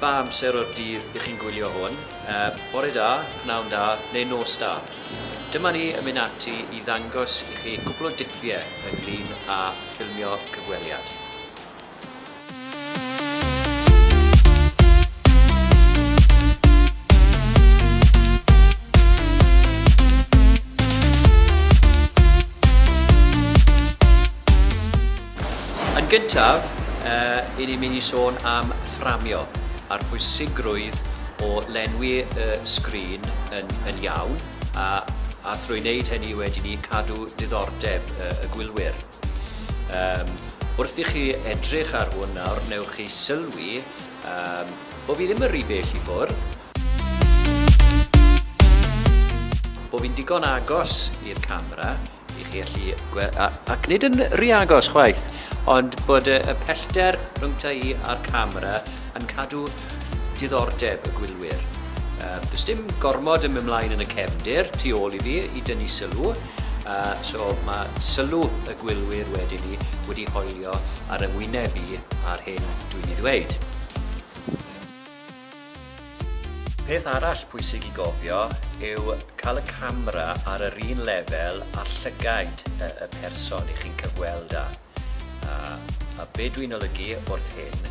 Pa amser o'r dydd y'ch chi'n gwylio hwn? Bore da, pnawn da, neu nos da. Dyma ni yn mynd ati i ddangos i chi cwpl o dipie ynglyn â ffilmio cyfweliad. Yn gyntaf, yy, 'yn ni'n mynd i sôn am fframio a'r pwysigrwydd o lenwi y sgrin yn yn iawn, a a thrwy wneud hynny wedyn 'ny cadw diddordeb y y gwylwyr. Yym, wrth i chi edrych ar hwn nawr, wnewch chi sylwi, yym, bo' fi ddim yn rhy bell i ffwrdd, bo' fi'n digon agos i'r camera, i chi allu gweld, ac nid yn rhy agos chwaith, ond bod y, y pellter rhyngta i a'r camera yn cadw diddordeb y gwylwyr. Um, does dim gormod yn ymlaen yn y cefndir tu ôl i fi i dynnu sylw, uh, so mae sylw y gwylwyr wedyn ni wedi hoelio ar yng ngwyneb i ar hyn dwi'n ei ddweud. Peth arall pwysig i gofio yw cael y camera ar yr un lefel â llygaid y person i chi'n cyfweld â. A be dwi'n olygu wrth hyn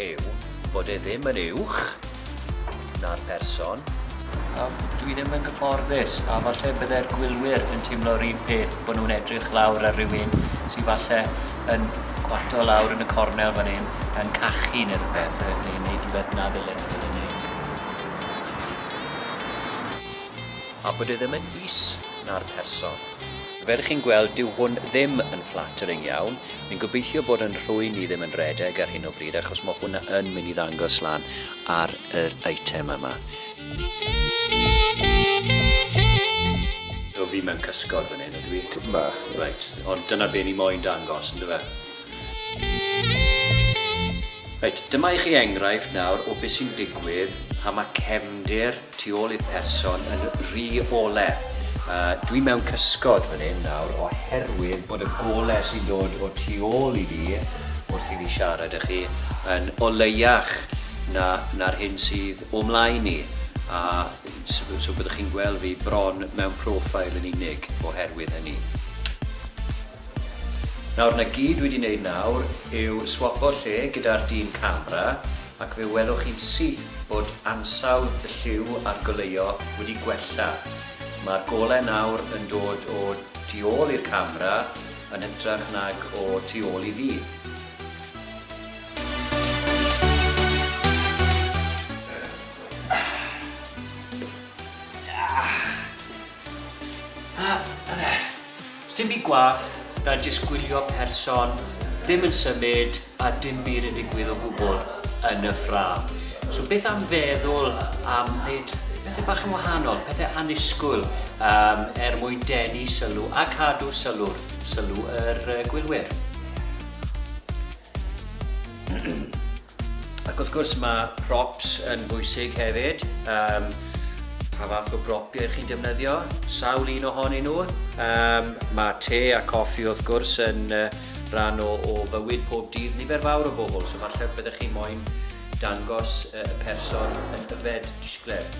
yw bod e ddim yn uwch na'r person, a dwi ddim yn gyfforddus a falle bydde'r gwylwyr yn teimlo'r un peth bod nhw'n edrych lawr ar rywun sy falle yn gwarto lawr yn y cornel fan 'yn yn cachu ne' rwbeth yy neu yn neud rwbeth na ddylen nw fod yn neud. A bod e ddim yn is na'r person. Fel chi'n gweld, dyw hwn ddim yn flattering iawn. Fi'n gobeithio bod 'yn nhrwyn i ddim yn redeg ar hyn o bryd achos ma' hwnna yn myn' i ddangos lan ar yr eitem yma. O fi mewn cysgod fan hyn ydw i? Tipyn bach. Reit, ond dyna be ni moyn dangos, on'd yfe? Reit, dyma i chi enghraifft nawr o be sy'n digwydd pan mae cefndir tu ôl i'r person yn rhy ole. Uh, dwi mewn cysgod fan hyn nawr oherwydd bod y gole sy'n dod o tu ôl i fi wrth i fi siarad â chi yn oleiach na, na'r hyn sydd o mlaen i, a so byddwch chi'n gweld fi bron mewn profile yn unig oherwydd hynny. Nawr, na gyd dwi wedi wneud nawr yw swapo lle gyda'r dyn camera ac fe welwch chi'n syth bod ansawdd y lliw a'r goleuo wedi gwella. Mae'r golau nawr yn dod o tu ôl i'r camera yn hytrach nag o tu ôl i fi. Sdim byd gwall na jyst gwylio person ddim yn symud a dim byd yn digwydd o gwbl yn y ffrâm. So beth am feddwl am wneud pethau bach yn wahanol, pethau annisgwyl um, er mwyn denu sylw a cadw sylw'r, sylw yr uh, gwylwyr. Ac wrth gwrs ma' props yn bwysig hefyd, yym pa fath o bropiau chi'n defnyddio, sawl un ohonyn nhw, yym ma' te a coffi wrth gwrs yn yy rhan o o fywyd pob dydd nifer fawr o bobl, so falle byddech chi moyn dangos yy y person yn yfed disgled.